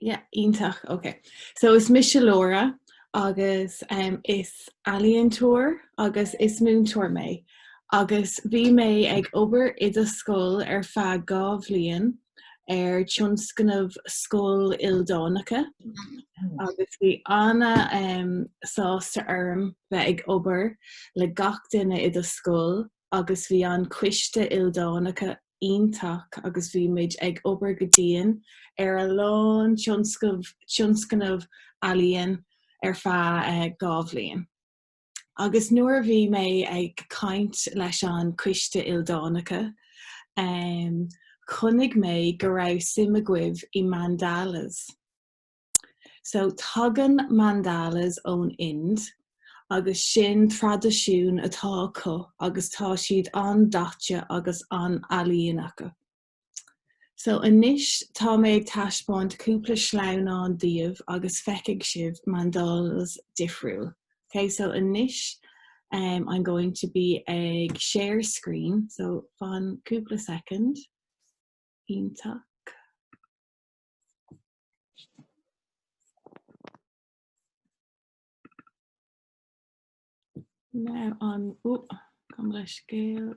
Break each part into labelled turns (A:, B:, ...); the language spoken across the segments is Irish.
A: Yeah, iontach, ok. So is mise Laura agus um, is ealaíontóir agus is múinteoir mé. Agus bhí mé ag obair i do scoil ar feadh dhá bhliain ar tionscnamh scoil ildánacha. Mm-hmm. Agus bhí ana um, sásta orm bheith ag obair le gach duine i do scoil agus bhí an coiste ildánacha iontach agus bhí muid ag obair go dian ar a lán tin tionscnamh ealaíon ar feadh dhá bhliain. Agus nuair a bhí mé ag caint leis an coiste ildánacha, chonaic mé go raibh suim agaibh i mandalas. So tagann mandalas ón Ind agus sin traidisiún atá acu agus tá siad an-daite agus an-ealaíonta. So anois tá mé ag taispeáint cúpla sleamhnán daoibh agus feicfidh sibh mandalas difriúil. Ok so anois em I'm going to bí ag share screen so fan cúpla soicind. Iontach. Now on, oh, gabh mo leithscéal.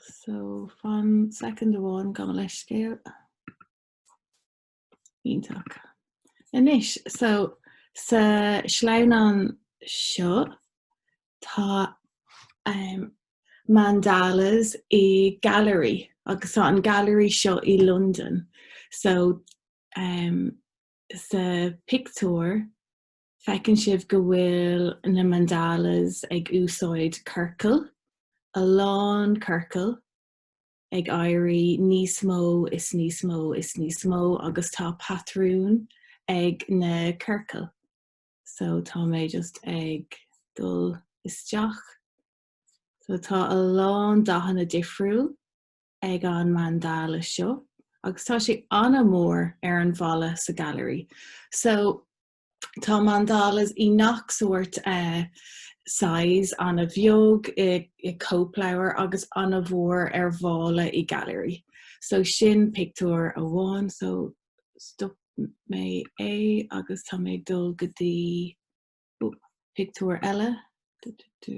A: So fan second one gabh mo leithscéal. Iontach. Anois, so sa sleamhnán seo, Tá mandalas i gailearaí agus tá an gailearaí seo i Londain. So sa pictiúr feiceann sibh go bhfuil na mandalas ag úsáid ciorcail, a lán ciorcail ag éirí níos mó is níos mó is níos mó agus tá patrún ag na ciorcail. so tá mé just ag dul isteach. So tá a lán dathanna difriúil ag an mandala seo agus tá sé an-mhór ar an bhalla sa gailearaí. So tá mandalas i ngach sórt eh, size, ana-bheag i, i cóipleabhar agus ana-mhór ar bhalla i gailearaí. So sin pictiúr amháin, so stop mé é agus tá mé ag dul go dtí pictiúr eile dududu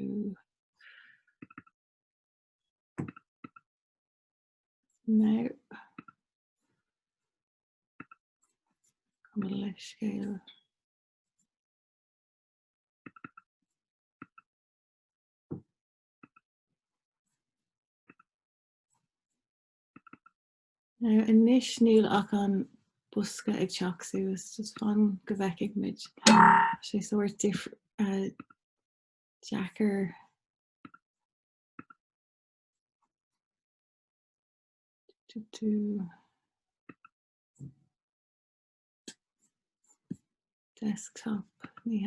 A: now gabh mo leithscéal. Now anois níl ach an bosca ag teacht suas just fan go bhfeicfidh muid. Tá sé sórt dif uh, deacair do do desktop ní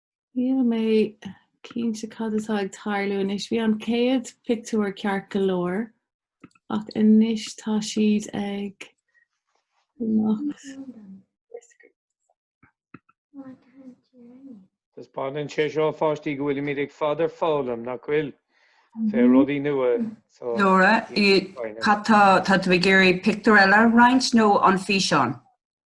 A: Níl mé cinnte cad atá ag tarlú anois. Bhí an chéad phictiúr ceart go leor ach anois tá siad ag imeacht.
B: Taispeánann sé seo a pháistí go bhfuilimid ar fad ag foghlaim, nach bhfuil? Faoi rudaí nua. So, Nóra,
C: cad tá, tá tú ag iarraidh pictiúr eile a roinnt nó an físeán?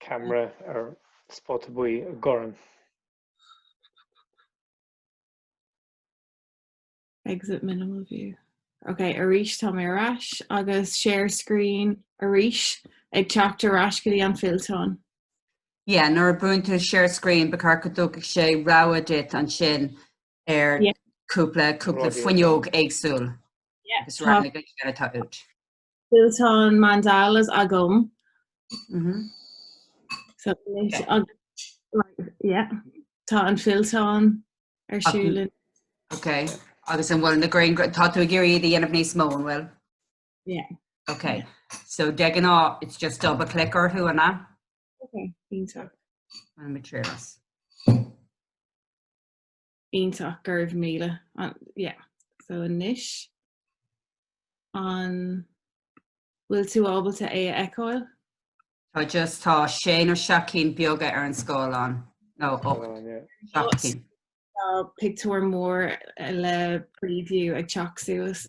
B: camera ar spota buí i
A: gCorn. exit minimal view. Ok, arís tá mé ar ais agus share screen arís ag teacht ar ais go dtí an fillteán.
C: Yeah, nuair a bhuaileann tú share screen ba cheart go dtabharfadh sé rogha duit ansin ar Yeah. cúpla cúpla Rogha. fuinneog éagsúil. Yeah,
A: agus tá- raghaidh go ceann
C: atá uait.
A: Fillteán mandalas agam. Mhm. So, leis- ag- like, yeah. Tá an fillteán ar Ach- siúl an- Ok,
C: agus an bhfuil na grian- tá tú ag iarraidh iad a dhéanamh níos mó an bhfuil?
A: Yeah.
C: Ok, so
A: de
C: ghnáth, it's just double click orthu anna, Okay,
A: iontach. an
C: materials.
A: Iontach, go raibh míle. Yeah. So anois, an bhfuil tú ábalta é a fheiceáil? Tá just,
C: tá sé nó seacht cinn beaga ar an scáileán, nó ocht, seacht cinn. Tá
A: pictiúr mór le preview ag teacht suas.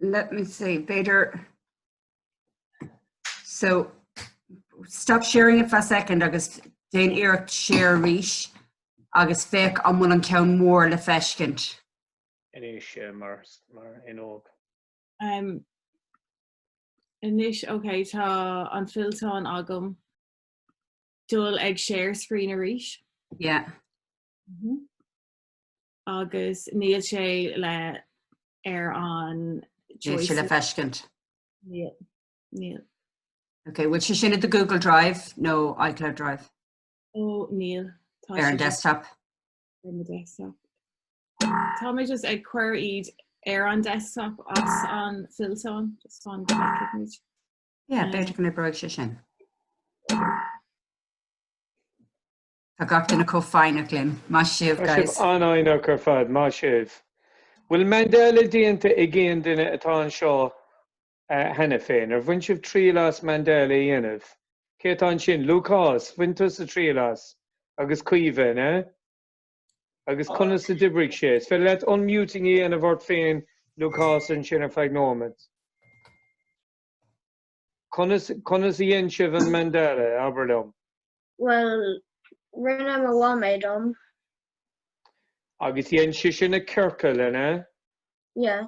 C: let me see, b'fhéidir so stop sharing it for a second agus déan iarracht share arís agus féach an bhfuil an ceann mór le feiscint. Anois
B: eh, mar, mar fhuinneog.
A: Um, Anois, ok, tá an fillteán agam. Dul ag share screen arís. Yeah. Mm
C: -hmm.
A: agus níl sé le ar an Níl sé
C: le
A: feiscint. Níl. Níl.
C: Ok, bhfuil sé sin i do Google Drive nó iCloud Drive? Ó níl.
A: Tá ar an desktop.
C: Ar an
A: desktop. Tá mé just ag cur iad ar an desktop as an fillteán just fan go bhfeicfidh muid. Yeah, b'fhéidir
C: go n-oibreoidh sé sin. Tá gach duine chomh foighneach linn. Maith sibh, guys. An-fhoighneach ar
B: fad. Maith sibh. Bhfuil mandala déanta ag aon duine atá anseo cheana féin? Ar bhain sibh triail as mandala a dhéanamh? Cé atá ansin? Lúcás, bhain tusa triail as? Agus Caoimhe, an ea? Agus conas a d'oibrigh sé? Is féidir leat unmuting a dhéanamh ort féin, Lúcás, ansin ar feadh nóimeat. Conas, conas a dhein sibh an Mandala, abair liom?
D: Bhuel, rinne mo mham é dom.
B: Agus dhein sise na ciorcail, an ea? Yeah.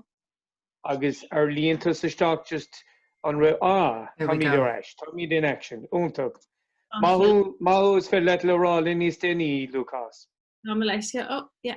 B: Agus ar líon tusa isteach just an raibh, ah, there we go. Táimid ar ais, táimid in action, iontach. Maith thú, maith thú is féidir leat a rá linn níos déanaí, Lúcás. Tá mé leis,
A: oh, yeah.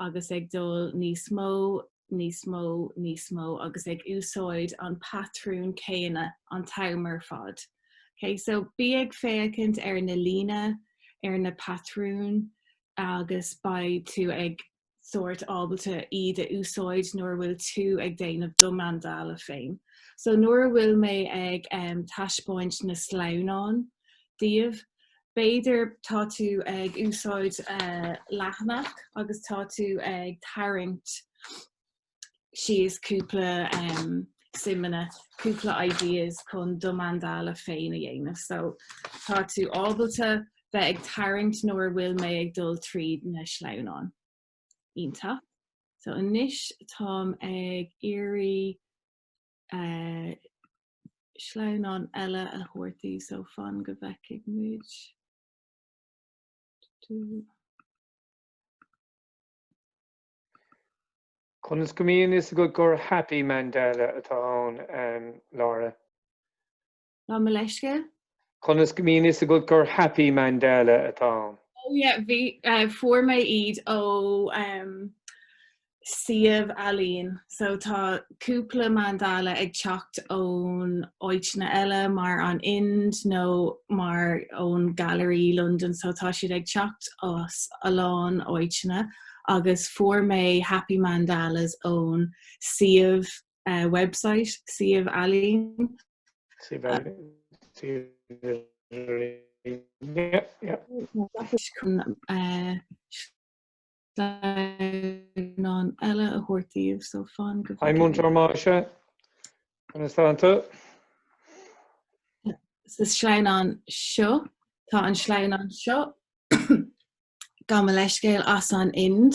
A: agus ag dul níos mó, níos mó, níos mó agus ag úsáid an patrún céanna an t-am ar fad. Okay, so bí ag féachaint ar na líne, ar na patrúin agus beidh tú ag sort ábalta iad a úsáid nuair a bhfuil tú ag déanamh do Mandala féin. So nuair a bhfuil mé ag taispeáint na sleamhnán daoibh, B'fhéidir tá tú ag úsáid leathanach agus tá tú ag tarraingt síos cúpla smaoineamh, cúpla ideas chun do mandala féin a dhéanamh. So tá tú ábalta bheith ag tarraingt nuair a bhfuil mé ag dul tríd na sleamhnáin. Iontach. So anois táim ag iarraidh eh, sleamhnán eile a thabhairt daoibh so fan go bhfeicfidh muid.
B: Conas go mbíonn fhios agat gur happy mandala atá ann, Laura.
A: Gabh mo leithscéal. Conas go
B: mbíonn fhios agat gur happy mandala atá ann? Oh yeah, bhí,
A: uh, fuair mé iad ó um, suíomh ealaín, so tá cúpla mandala ag teacht ón áiteanna eile mar an Ind nó mar ón Gallery London, so tá siad ag teacht as a lán áiteanna agus fuair mé Happy Mandalas ón suíomh eh, website, suíomh
B: ealaín. Suíomh ealaín. chun eh,
A: sleamhnán eile a thabhairt daoibh so fan go Hi Múinteoir
B: Masha. Conas tá
A: tú? Sa sleamhnán seo tá an sleamhnán seo gabh mo leithscéal as an Ind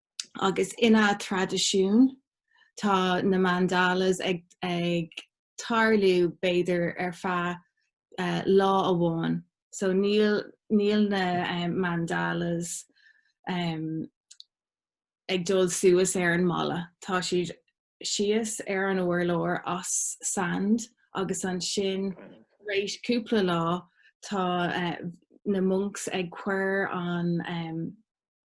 A: agus ina traidisiún tá na mandalas ag ag tarlú b'fhéidir ar feadh lá amháin. So níl níl na mandalas ag dul suas ar an mballa, tá siad síos ar an urlár as sand agus ansin tar éis cúpla lá tá na monks ag cur an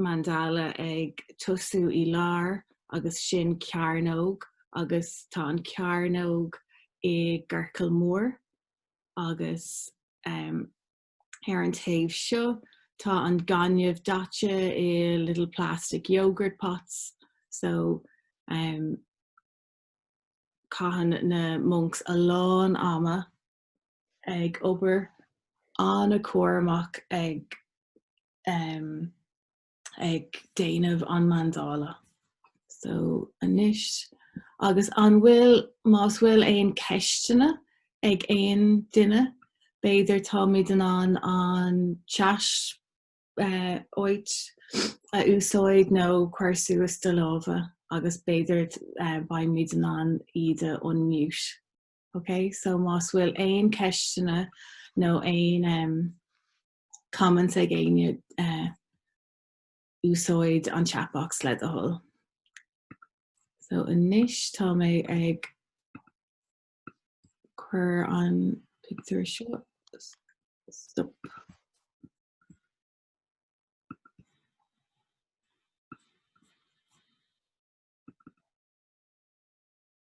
A: mandala ag tosú í lár agus sin cearnóg agus tá an cearnóg i gciorcal mór agus ar an taobh seo tá an gaineamh daite i little plastic yoghurt pots so caitheann na monks a lán ama ag obair an-chúramach ag ag déanamh an mandala. So anois agus an bhfuil más bhfuil aon ceisteanna ag aon duine b'fhéidir táimid in ann an chat áit a úsáid nó cuir suas do lámha agus b'fhéidir beimid in ann iad a unmute. Ok, so más bhfuil aon ceisteanna nó aon um, comments ag éinne uh, eh, úsáid an chatbox le do thoil. So anois tá mé ag cur an picture seo stop.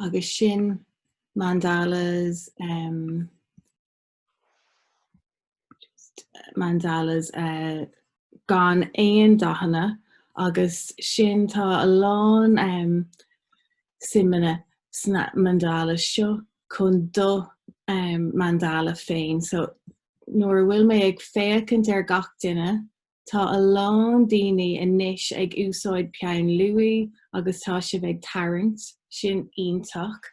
A: Agus sin mandalas um, mandalas uh, gan aon dathanna agus sin tá a lán em siombailí sna mandala seo chun do em mandala féin so nuair a bhfuil mé ag féachaint ar gach duine tá a lán daoine anois ag úsáid peann luaí agus tá sibh ag tarraingt sin iontach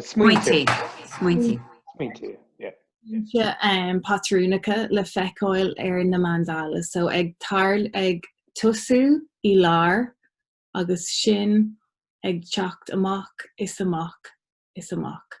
C: Smaointe. Smaointe.
B: Smaointe, yeah. Smaointe um, patrúnacha
A: le feiceáil ar na mandalas. So ag, tar, ag tosú i lár agus sin ag teacht amach is amach is amach.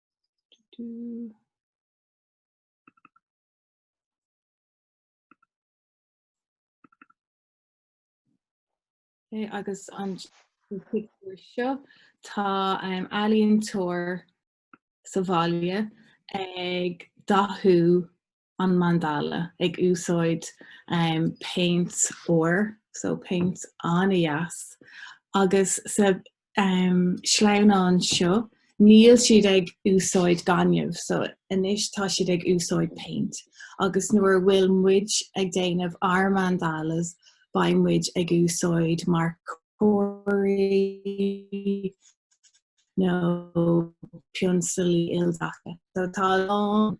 A: Okay, agus an picture seo tá um, ealaíontóir sa bhaile ag dathú an mandala ag úsáid péint óir, so péint an-dheas, agus sa sleamhnán seo níl siad ag úsáid gaineamh, so anois tá siad ag úsáid péint. Agus nuair a bhfuil muid ag déanamh ár mandalas beidh muid ag úsáid marcóirí nó pionsalaí ildaite. So tá a lán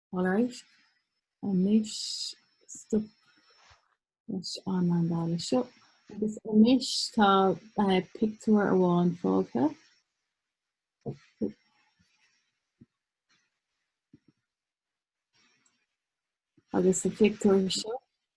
A: All right. And I'll stop leis an mandala seo. Agus anois tá uh, pictiúr amháin fágtha. Agus sa pictiúr seo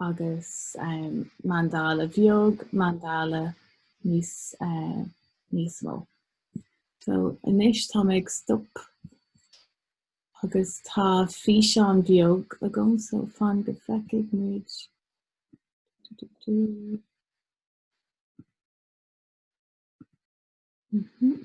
A: agus um, mandala bheag, mandala níos, uh, níos mó. So, anois tá mé ag stop agus tá físeán beag agam so fan go feicigh muid. Mm -hmm.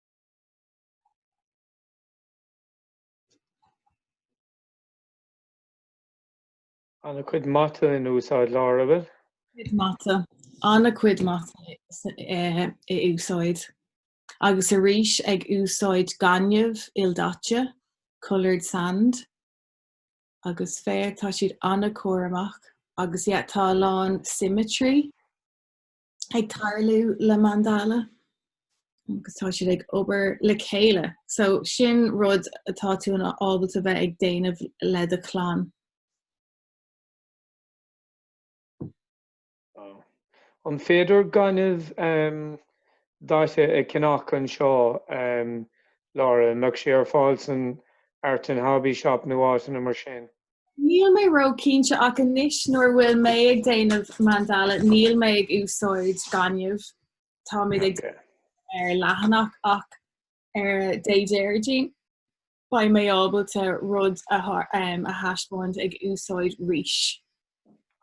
B: Ana-chuid mata in úsáid, Laura. Cuid mata.
A: Ana-chuid mata in úsáid. Agus arís ag úsáid gaineamh ildaite, coloured sand. Agus féach, tá siad ana-chúramach. Agus yeah, tá a lán symmetry. ag tarlú le Mandala agus tá siad ag obair le chéile. So sin rud atá tú in ábalta a bheith ag déanamh le do chlann.
B: An féidir gaineamh um, daite a cheannach anseo um, Laura? An mbeadh sé ar fáil san Art and Hobby Shop nó áiteanna mar sin? Níl mé
A: róchinnte ach anois nuair a bhfuil mé ag déanamh Mandala níl mé ag úsáid gaineamh, tá mé ag déanamh ar leathanach ach ar Dé Déardaoin beidh mé ábalta rud a thaispeáint ag úsáid rís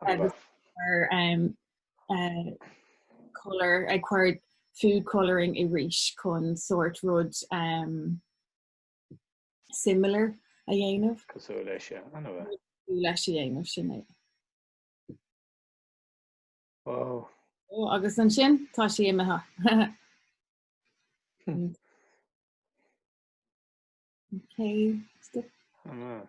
A: agus ag cur food colouring i rís chun sórt rud similar a dhéanamh. cosúil leis a
B: dhéanamh é. cosúil leis a dhéanamh,
A: sin é.
B: Wow. Ó, agus
A: ansin tá sí imithe. Okay, stop? An ea?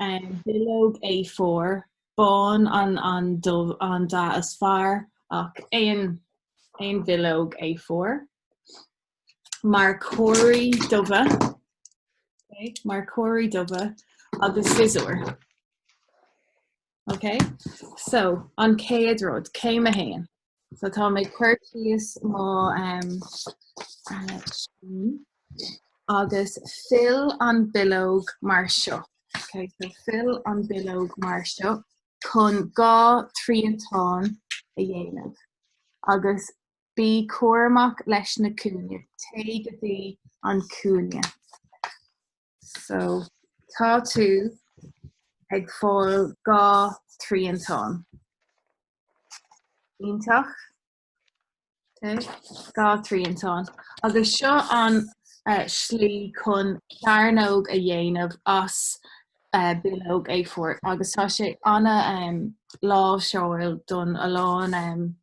A: Bileog A4, bán an an dubh an dath is fearr ach aon aon bhileog A4. Marcóirí dubha Marcóirí dubha agus siosúr. Ok so an céad rud, céim a haon. So tá mé ag cur síos mo em scrín agus fill an bileog mar seo. Ok so fill an bileog mar seo chun dhá triantán a dhéanamh agus bí cúramach leis na cúinne. Téigh go dtí an cúinne. So tá tú ag fáil dhá triantán. Iontach. Okay. Dhá triantán. Agus seo an uh, slí chun cearnóg a dhéanamh as uh, bileog A4 agus tá sé an-, um, láisiúil do a lán um,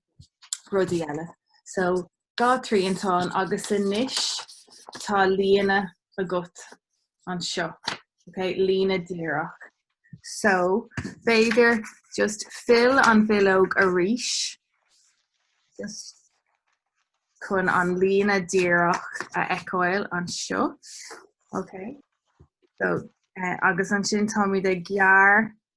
A: rudaí eile. So Dhá thriantán agus anois tá líne agat anseo, ok, líne díreach. So, b'fhéidir just fill an bhileog arís just chun an líne díreach a fheiceáil anseo. Ok. So, eh, agus ansin táimid ag gearr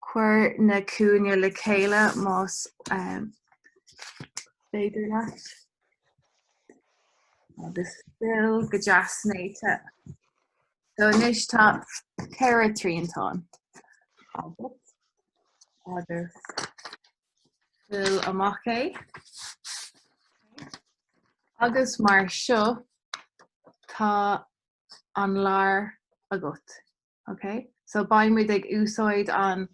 A: Cuir na cúinne le chéile más féidir leat agus fill go deas néata. So anois tá ceithre triantán agat agus fill amach é. Agus mar seo tá an lár agat. Ok so beidh muid ag úsáid an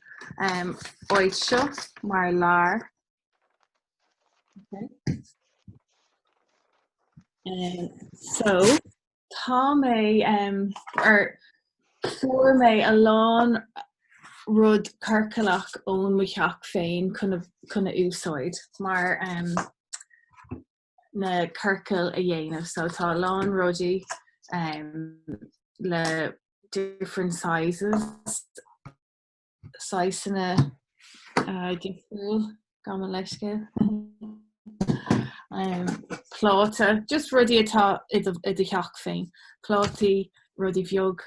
A: um, áit seo mar lár. Okay. Um, so tá mé um, a fuair mé a lán rud ciorcalach ón mo theach féin chun a úsáid mar um, na ciorcail a dhéanamh so tá a lán rudaí le different sizes saghsanna difriúla gabh mo leithscéal pláta just rudaí atá i do theach féin plátaí rudaí bheag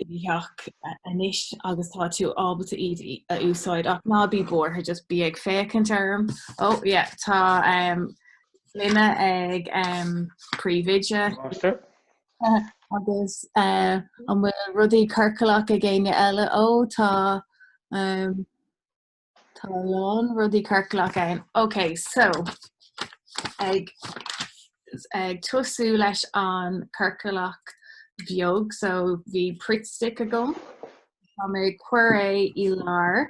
A: i theach anois agus tá tú ábalta iad a úsáid ach ná bí buartha just bí ag féachaint orm. Ó yeah, tá um, linne ag um, príomhoide Máistir. agus uh, an bhfuil rudaí ciorclach ag éinne eile ó tá um, Tá a lán rudaí ciorclach ann. Ok so ag ag tosú leis an ciorclach bheag so bhí Pritt Stick agam. Tá mé ag cur é i lár.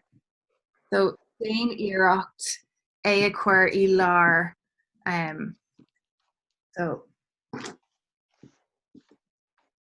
A: So déan iarracht é a chur i lár um, so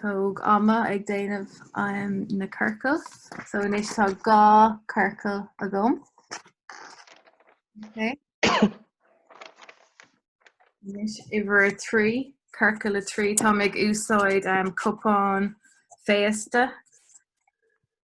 A: Tóg ama ag déanamh um na ciorcal. So anois tá dhá ciorcal agam. Okay. Anois uimhir a trí, ciorcal a trí, tá mé ag úsáid um, cupán féasta.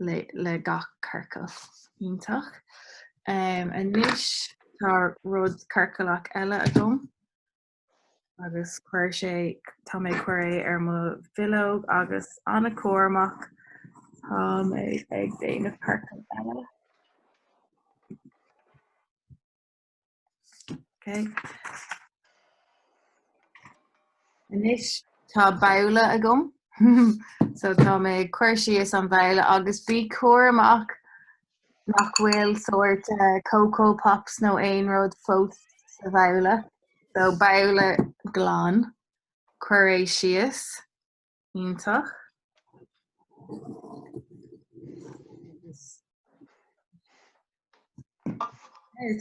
A: le gach ciorcal. Iontach. Anois tá rud ciorclach eile agam agus cuir sé tá mé cur é ar mo bhileog agus an-chúramach tá mé ag déanamh ciorcal eile. Okay. Anois tá babhla agam so tá mé cur síos an babhla agus bí cúramach nach bhfuil sórt eh, coco pops nó aon rud fós sa bhabhla so babhla glan cuir é síos. Iontach.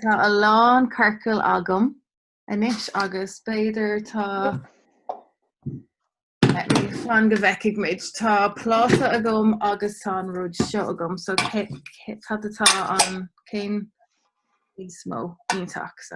A: Tá a lán ciorcail agam anois agus b'fhéidir tá fan go bhfeicfidh muid tá pláta agam agus tá an rud seo agam so cad atá an ceann is mó iontach so.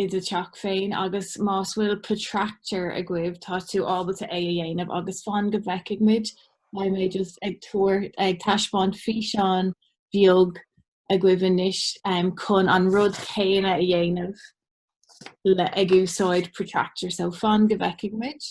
A: i do theach féin agus más bhfuil protractor agaibh tá tú ábalta é a dhéanamh agus fan go bhfeicfidh muid beidh mé just ag tabhairt, ag taispeáint físeán bheag agaibh anois chun an rud céanna a dhéanamh le ag úsáid protractor so fan go bhfeicfidh muid.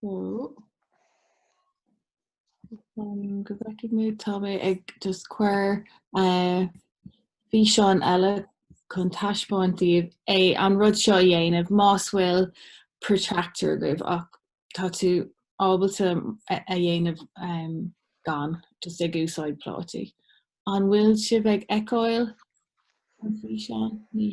A: Cool. Um, go bhfeicfidh muid tá mé ag just cur uh, físeán eile chun taispeáint daoibh é an rud seo a dhéanamh más bhfuil protractor agaibh ach tá tú ábalta a dhéanamh um, gan just ag úsáid plátaí. An bhfuil sibh ag feiceáil an físeán ní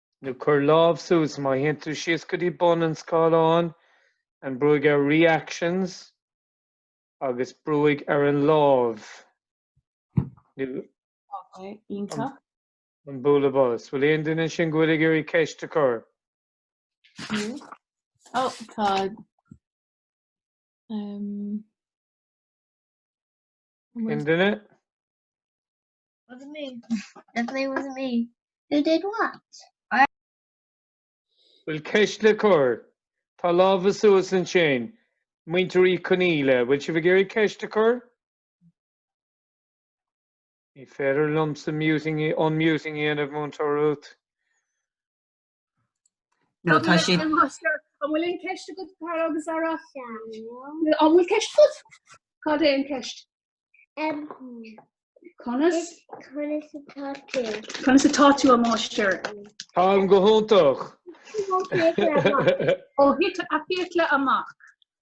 B: nó cuir lámh suas má théann tú síos go dtí bun an scáileáin, brúigh ar Reactions agus brúigh ar an láimh nó Ok,
A: iontach. an
B: bualadh bos. Bhfuil aon duine ansin go bhfuil ag iarraidh ceist a
A: chur? Fiú. Ó, tá.
B: Um, Aon duine?
D: Wasn't me. Definitely wasn't me. Who did
B: what? Bhfuil ceist le cur? Tá lámha suas ansin. Muintir Uí Conaíle, bhfuil sibh ag iarraidh ceist a chur? Ní féidir liomsa muting, unmuting a dhéanamh, Múinteoir Ruth.
C: No tá sé An
E: bhfuil aon cheist go tar agus ara? An bhfuil ceist agat? Cad é an ceist? Conas Conas a tá tú a mháistir? Tá
B: go hiontach.
E: ó thit a fiacla amach.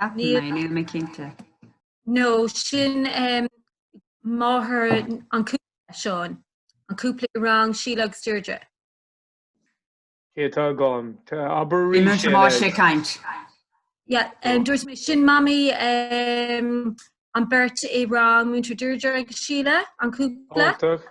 B: Ceapann
C: mé, níl mé cinnte.
F: No, sin um, máthair an cúpla Seán, an cúpla i rang Síle agus Deirdre.
B: Cé tá gán? Tá abair rí Iman sé má le. sé
F: caint.
C: Yeah, um, dúirt
F: mé sin mami um, an beirt i rang múinteoir Deirdre agus Síle, an cúpla. Iontach.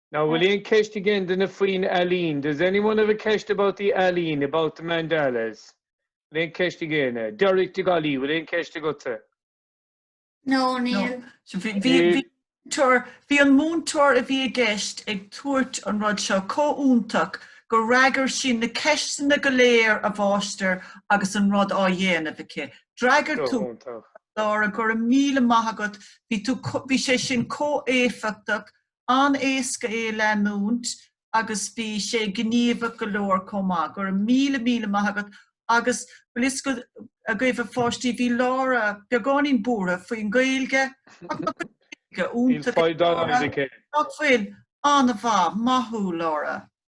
B: Now, bhfuil aon ceist ag aon duine faoin ealaín? Does anyone have a ceist about the ealaín, about the mandalas? Bhfuil aon ceist ag aon? Derek de Gallaí, bhfuil aon ceist agatsa? No,
D: níl.
G: Bhí an múinteoir a bhí i gceist ag tabhairt an rud seo chomh hiontach gur fhreagair sí na ceisteanna go léir a mháistir agus an rud á dhéanamh aici. D'fhreagair tú Laura go raibh míle maith agat bhí tú bhí sé sin chomh héifeachtach an-éasca é a leanúint agus bhí sé gníomhach go leor chomh maith. Go raibh míle míle maith agat agus bhfuil fhios agaibh a pháistí bhí Laura beagáinín buartha faoin Gaeilge ach bhí Gaeilge
B: iontach ag Laura. Bhfuil?
G: An-mhaith. Maith thú Laura.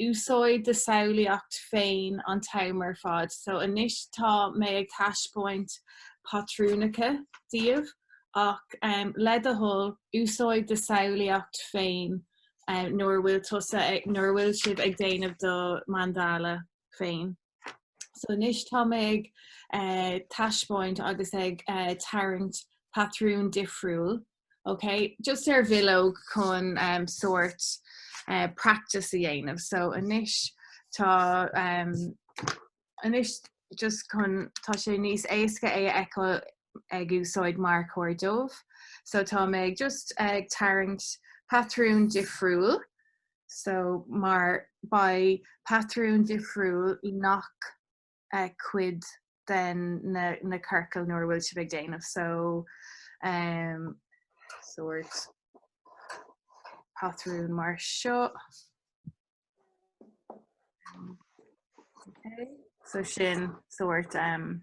A: úsáid do samhlaíocht féin an t-am ar fad. So anois tá mé ag taispeáint patrúnacha daoibh ach le do thoil úsáid do samhlaíocht féin nuair a bhfuil tusa, nuair a bhfuil sibh ag déanamh do Mandala féin. So anois tá mé ag eh, taispeáint agus ag eh, tarraingt patrún difriúil. Okay, just ar bhileog chun um, sort uh, practice a dhéanamh. So anois tá um, anois just chun tá sé níos éasca é a fheiceáil ag úsáid marcóir dubh. So tá mé ag just ag tarraingt patrún difriúil So mar beidh patrún difriúil i ngach cuid den na ciorcail nuair a bhfuil sibh ag déanamh so ehm sort patrún mar seo. So sin sort ehm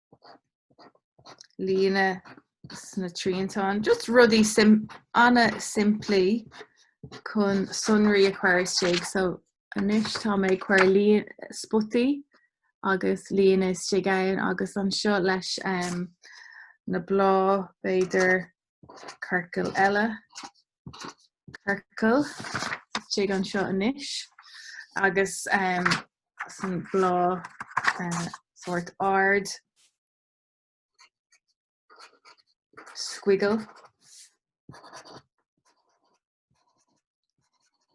A: líne sna triantáin, just rudaí an-simplí chun sonraí a chur istigh. So anois tá mé ag cur spotaí agus líne istigh ann agus anseo leis na bláth b'fhéidir Ciorcal eile. Ciorcal istigh anseo anois agus um, san blá uh, sort ard squiggle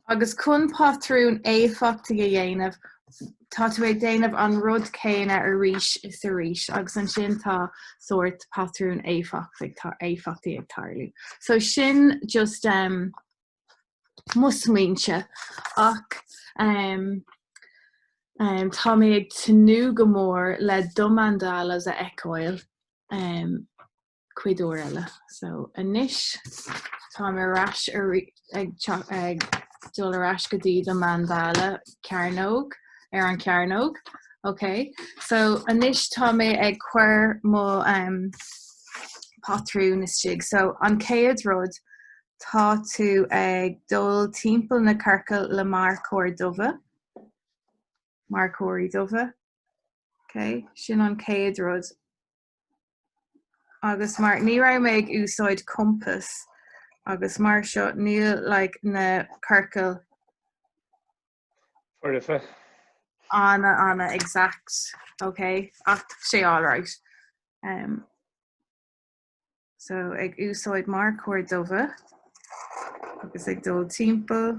A: Agus chun patrún éifeachtaigh a dhéanamh, tá tú ag déanamh an rud céanna arís is arís agus ansin tá sórt patrún éifeachtaigh ag tarlú. So sin just em mo smaointe ach em em tá mé ag tnúth go mór le do mandalas a fheiceáil em. cuid eile. So anois tá mé ar ais ag dul ar ais go dtí do mandala cearnóg ar an cearnóg. Ok, so anois tá mé ag cuir mo um, patrún istigh. So an céad rud tá tú ag dul timpeall na ciorcail le marcóir dubha. Marcóirí dubha. Ok, sin an céad rud agus mar ní raibh mé ag úsáid compass agus mar seo níl like na ciorcail ana ana exact ok ach sé alright um so ag úsáid marcóir dubha agus ag dul timpeall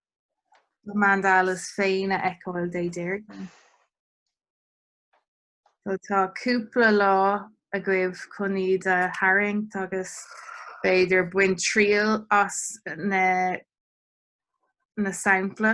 A: mandalas féin a fheiceáil Dé Déardaoin. So tá cúpla lá agaibh chun iad a tharraingt agus b'fhéidir baint triail as na sampla.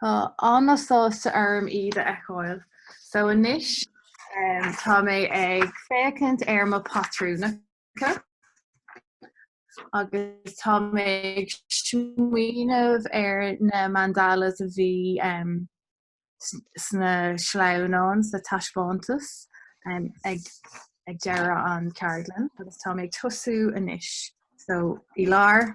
A: Tá an-sásta orm iad a fheiceáil. So anois tá mé ag féachaint ar mo pátrúnacha agus tá mé ag smaoineamh ar na mandalas a bhí sna sleamhnáin sa taispeántas ag deireadh an ceardlann agus tá mé ag tosú anois. So i lár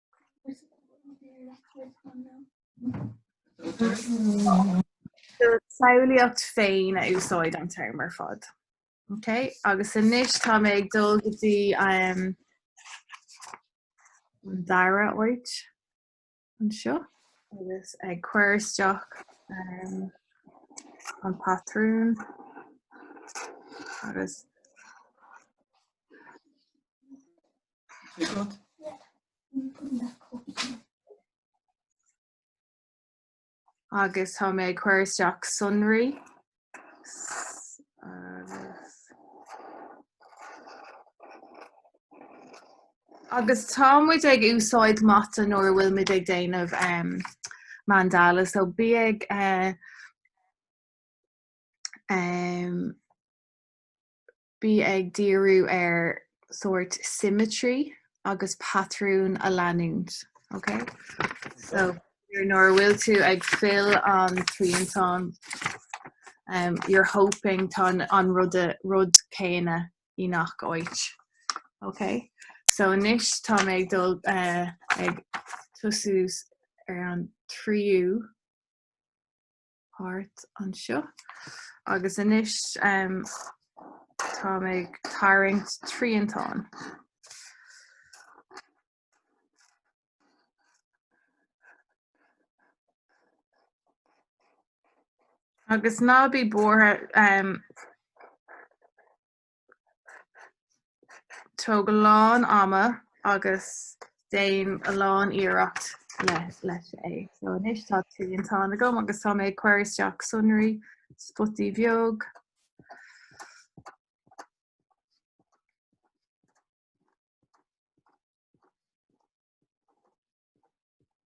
A: Samhlaíocht féin a úsáid an t-am ar fad. Okay? Agus anois tá mé ag dul go dtí um, an dara áit anseo agus ag cur isteach um, an pátrún agus Agus tá mé ag cur isteach sonraí. Agus tá muid ag úsáid mata nuair a bhfuil muid ag déanamh um, mandala, so bí ag uh, um, Bí ag díriú ar sórt symmetry agus pátrún a leanúint. Ok so nuair a bhfuil tú ag fill an triantán um you're hoping tá an rud céanna i ngach áit. Ok so anois tá mé ag dul eh ag tosú ar an tríú. páirt anseo agus anois tá mé ag tarraingt triantán. Agus ná bí buartha, Tóg a lán ama agus déan a lán iarracht leis é. So anois tá triantán agam agus tá mé ag cur isteach sonraí spotaí bheag.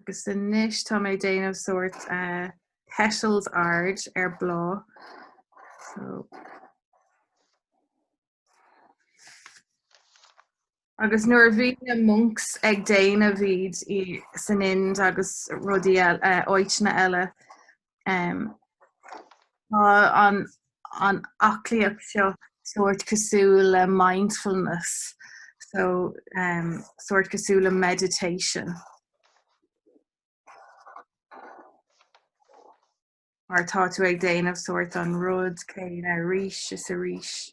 A: Agus anois tá mé déanamh sórt uh, petals ard ar bláth. So. Agus nuair a bhí na monks ag déanamh iad san Ind agus rudaí eile, uh, áiteanna eile, an aclaíocht seo sórt cosúil le mindfulness, so sórt cosúil le meditation. Mar tá tú ag déanamh sórt an rud céanna arís is arís.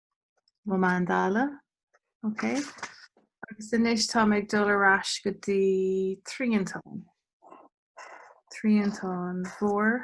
A: mo mandála. Ok. Agus anois tá mé ag dul ar ais go dtí Triantán. Triantán Mhór.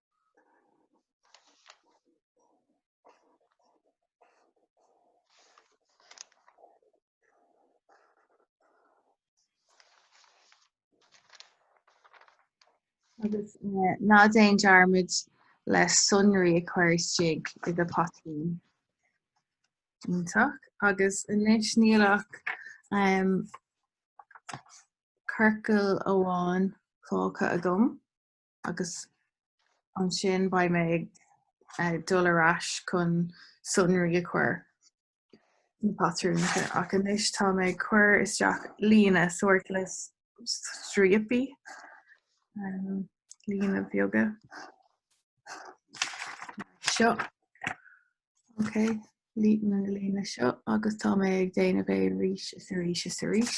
A: Agus ná déan dearmad le sonraí a chur isteach i do phatrún. Iontach. Agus anois níl ach um, ciorcal amháin fágtha agam. agus ansin beidh mé ag dul ar ais chun sonraí a chur sna patrúnta ach anois tá mé ag cur isteach línte sórt le stríopaí, línte bheaga seo, ok, líne seo agus tá mé ag déanamh é arís is arís is arís.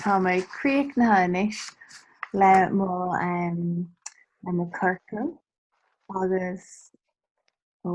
A: Tá mé críochnaithe anois le mo le na ciorcail agus ó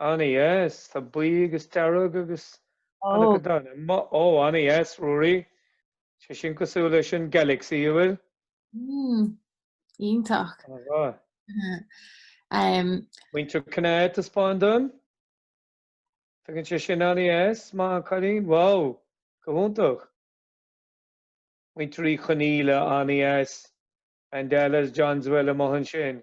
B: An-deas. Tá buí agus dearg agus an-, go deimhin. Emma, Oh, an-deas, Ruairí. Tá sé sin cosúil leis an Galaxy, nach bhfuil? Mm.
A: Iontach. Chomh maith. Em,
B: Muintir Chonaill taispeáin dom. Tá an ceann sin an-deas. Maith an cailín. Wow, go hiontach. Muintir Uí Chonaíle, an-deas. Mandalas deasa a bhfuil amuigh ansin.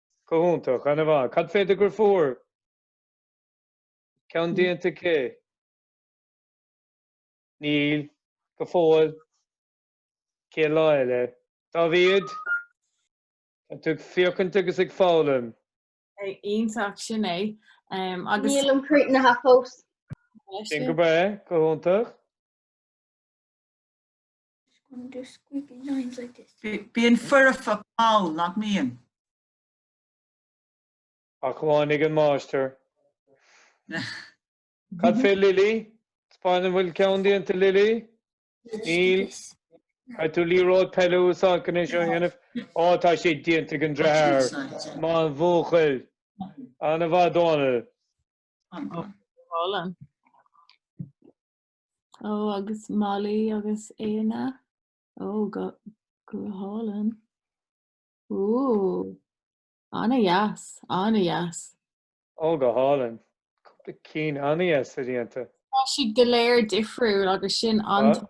B: Go hiontach, ana mhaith. Cad fé do dheirfiúr? Ceann déanta aici? Níl, go fóill. Cé eile? Dáivid? An bhfuil tú ag féachaint agus ag foghlaim?
A: Iontach sin é. Um, agus Níl an cruth
D: ann fós. Sin go
B: breá, go hiontach.
D: Just do the
G: squiggly lines like this. Bíonn foirfe
B: mall, nach mbíonn? Ach amháin ag an máistir. Cad fé Lily? Spáin dom an bhfuil ceann déanta Lily? Níl. Caithfidh tú liathróid peile a úsáid chun é seo a dhéanamh. Ó tá sé déanta ag an deartháir. Maith an buachaill. Ana mhaith Dónall. Ó, go hálainn.
A: Ó agus Molly agus Éanna. Ó go hálainn. Ó ana dheas, ana dheas.
B: Ó go hálainn. Cúpla cinn ana dheas déanta. Tá siad go
A: léir difriúil agus sin an Tá?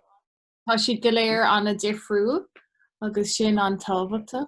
A: Tá siad go léir ana difriúil agus sin an tábhachtach.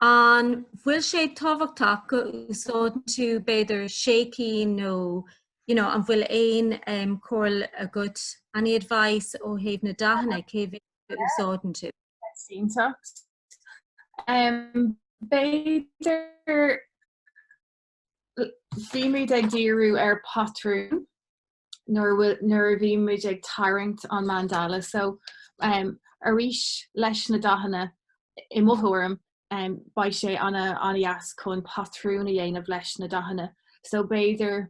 F: An bhfuil sé tábhachtach go n-úsáideann tú b'fhéidir sé cinn nó you know, an bhfuil aon um, comhairle agat, any advice ó thaobh na dathanna, cé mhéad a úsáideann tú?
A: Sínteacht. Um, b'fhéidir Bhíomar ag díriú ar patrún nuair a bhíomar ag tarraingt an mandala. So arís leis na dathanna, i mo thuairim, beidh sé an-deas chun patrún a dhéanamh leis na dathanna. So b'fhéidir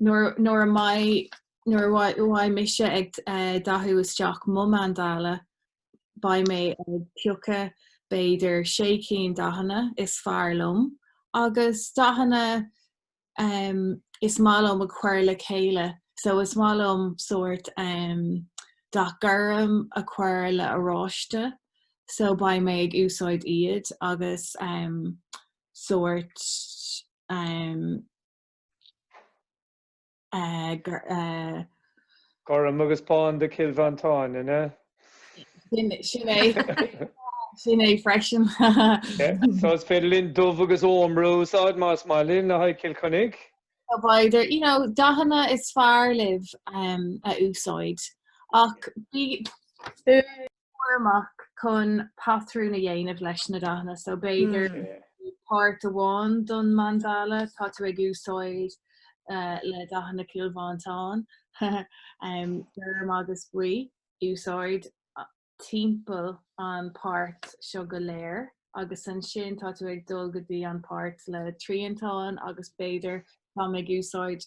A: nuair a mbeidh, nuair a bheidh mise ag dathú isteach mo mandala, beidh mé ag piocadh b'fhéidir sé cinn dathanna is fearr liom agus dathanna is maith liom a chur le chéile. So is maith liom sórt dath gorm a chur le oráiste so beidh mé ag úsáid iad agus sórt
B: Gorm agus bán do Chill Mhantáin, an ea? Sin é.
A: Sin é freisin. So
B: is féidir linn dubh agus ómra a úsáid más maith linn le haghaidh Cill Chainnigh. So b'fhéidir,
A: you know, dathanna is fearr libh a úsáid ach bí. cúramach chun patrún a dhéanamh leis na dathanna so b'fhéidir páirt amháin don mandala tá tú ag úsáid le dathanna Chill Mhantáin gorm agus buí a úsáid timpeall an páirt seo go léir. agus ansin tá tú ag dul go dtí an páirt le triantán agus b'fhéidir táim ag úsáid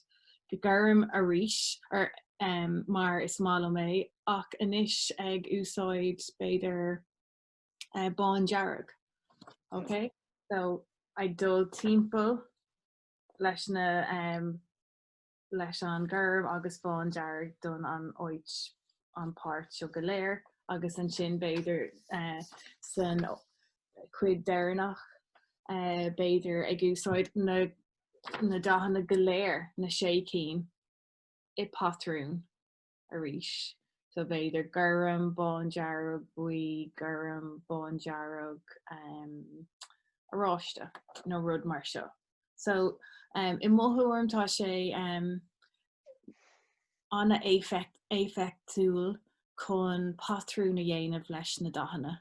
A: gorm arís ar em mar is maith liom é ach anois ag úsáid b'fhéidir eh bándearg. Ok so ag dul timpeall leis na em. leis an gorm agus bándearg don an áit an páirt seo go léir agus ansin b'fhéidir san chuid deireanach b'fhéidir ag úsáid na dathanna go léir, na sé cinn i patrún. arís. So b'fhéidir gorm, bándearg, buí, gorm, bándearg, oráiste nó rud mar seo. So i mo thuairim tá sé an-éifeachtúil chun patrún a dhéanamh leis na dathanna.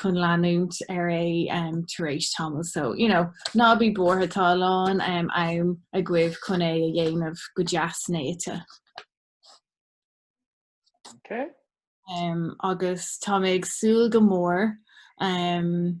A: chun leanúint ar é tar éis tamaill so you know ná bí buartha tá a lán am agaibh chun é a dhéanamh go deas néata. Ok. Um, agus tá mé ag súil go mór um,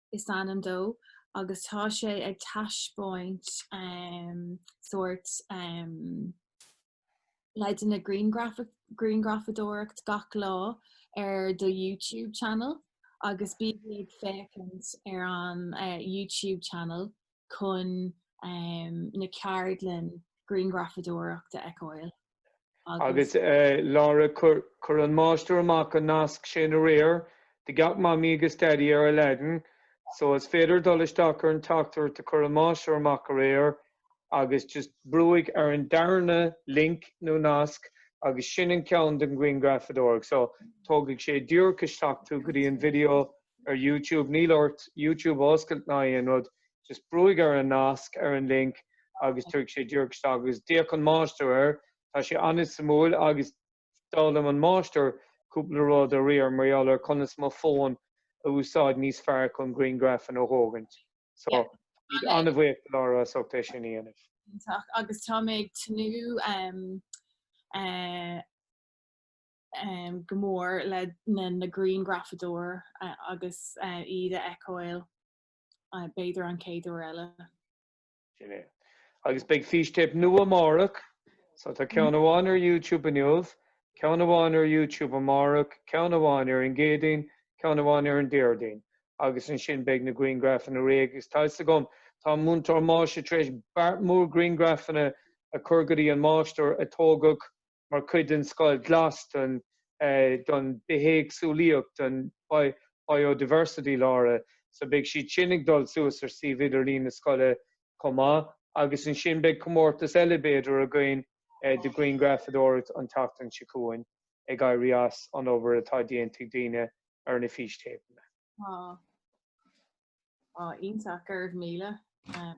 A: is ainm dó agus tá sé ag taispeáint sórt leideanna grianghrafadóireachta gach lá ar an YouTube channel agus bí ag féachaint ar an YouTube channel. chun na ceardlanna grianghrafadóireacht a fheiceáil
B: agus. Laura, Chuir an máistir amach an nasc sin aréir do gach Mamaí agus Daidí ar Aladdin, so is féidir dul isteach ar an teachtaireacht a chuir an máistir amach aréir agus just brúigh ar an darna link nó nasc agus sin an ceann don ghrianghrafadóireacht. So tógfaidh sé díreach isteach tú go dtí an video ar youtube, níl ort youtube a oscailt ná aon rud, just brúigh ar an nasc ar an link agus tógfaidh sé díreach isteach agus d'fhéach an máistir air, tá sé an-suimiúil agus d'fhoghlaim an máistir cúpla rud aréir mar gheall ar conas mo fón a úsáid níos fearr chun grianghrafanna a thógaint, so Yeah, tá mé an-bhuíoch de Laura as ucht é sin a dhéanamh. Iontach, agus tá
A: mé ag tnúth eh, go mór le na grianghrafadóir agus iad a fheiceáil b'fhéidir an chéad uair eile. Sin é.
B: Agus beidh fístéip nua amárach, so tá ceann amháin ar YouTube inniu, ceann amháin ar YouTube amárach, ceann amháin ar an gCéadaoin, ceann amháin ar an Déardaoin, agus ansin beidh na grianghrafanna réidh agus tá a fhios agam, tá múinteoir Maisie tar éis beart mór grianghrafanna a chur go dtí an máistir a tógadh mar chuid den Scoil Ghlas don Bithéagsúlaíocht, don Biodiversity Laura, so beidh siad sin ag dul suas ar suíomh idirlín na scoile chomh maith agus ansin beidh comórtas eile b'fhéidir againn de ghrianghrafadóireacht an tseachtain seo chugainn ag éirí as an obair atá déanta ag daoine ar na fístéipeanna. Á, á,
A: iontach, go raibh míle. Um,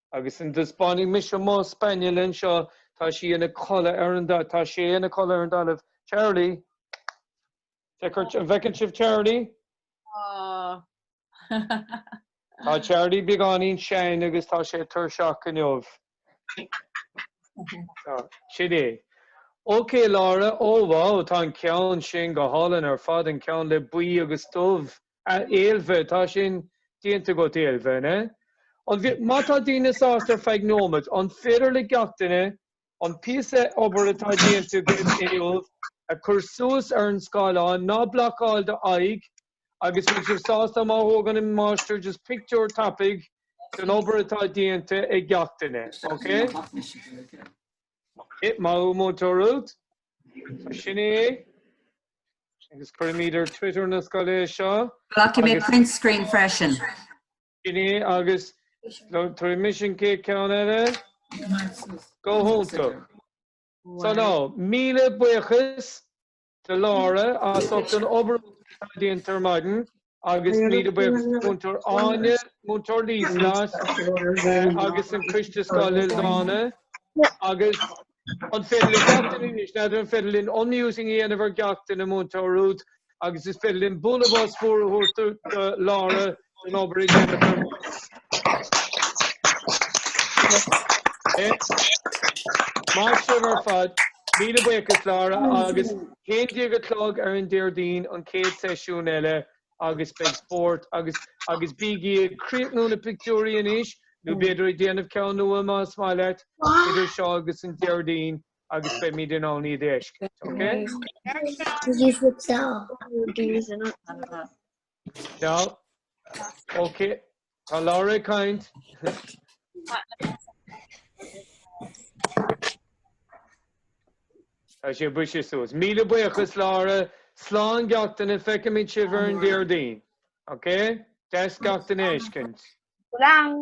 B: Agus an dtaispeánfaidh mise mo spaniel anseo, tá sé ina chodladh ar an, tá sé ina chodladh ar an dtalamh. Charlie? Feictear, an bhfeiceann sibh Charlie? Tá Charlie beagáinín sean agus tá sé tuirseach inniu. Sin é. OK Laura, oh wow, tá an ceann sin go hálainn ar fad, an ceann le buí agus dubh. Ailbhe, tá sin déanta agat Ailbhe, an ea? An bhfi, má tá daoine sásta ar feadh nóiméad, an féidir le gach duine an píosa obair atá déanta agaibh inniu a chur suas ar an scáileán, ná blocáil do aghaidh, agus bhfuil sibh sásta má thógann an máistir just pictiúr tapaidh den obair atá déanta ag gach duine, ok? A Mhúinteoir Ruth. sin é. Agus cuirfimid ar Twitter na scoile é seo. Glacfaidh mé print
C: screen freisin. Sin
B: é agus tógfaidh mise an chéad cheann eile. Go hiontach. So now, míle buíochas. Do Laura, as ucht an obair atá déanta ar maidin agus míle buíochas do Mhúinteoir Áine, Múinteoir Líoslais agus an Coiste Scoile Ildána agus an féidir linn gach duine anois n'fheadar an féidir linn unmuting a dhéanamh ar gach duine, Múinteoir Ruth, agus is féidir linn bualadh bos mór a thabhairt do Laura an obair atá déanta Maith sibh ar fad, míle buíochas Laura agus a haon déag a chlog ar an Déardaoin an chéad seisiún eile agus beidh spórt agus agus bígí ag críochnú na pictiúirí anois nó b'fhéidir ag déanamh ceann nua más maith leat idir seo agus an Déardaoin agus beimid in ann iad a fheiscint, ok? Did you flip that off? Ciall. Ok. Tá Laura ag caint. Tá sé buise suas. Míle buíochas Laura. Slán gach duine feicfimid sibh ar an Déardaoin. Ok? Deas gach duine a fheiscint. Slán.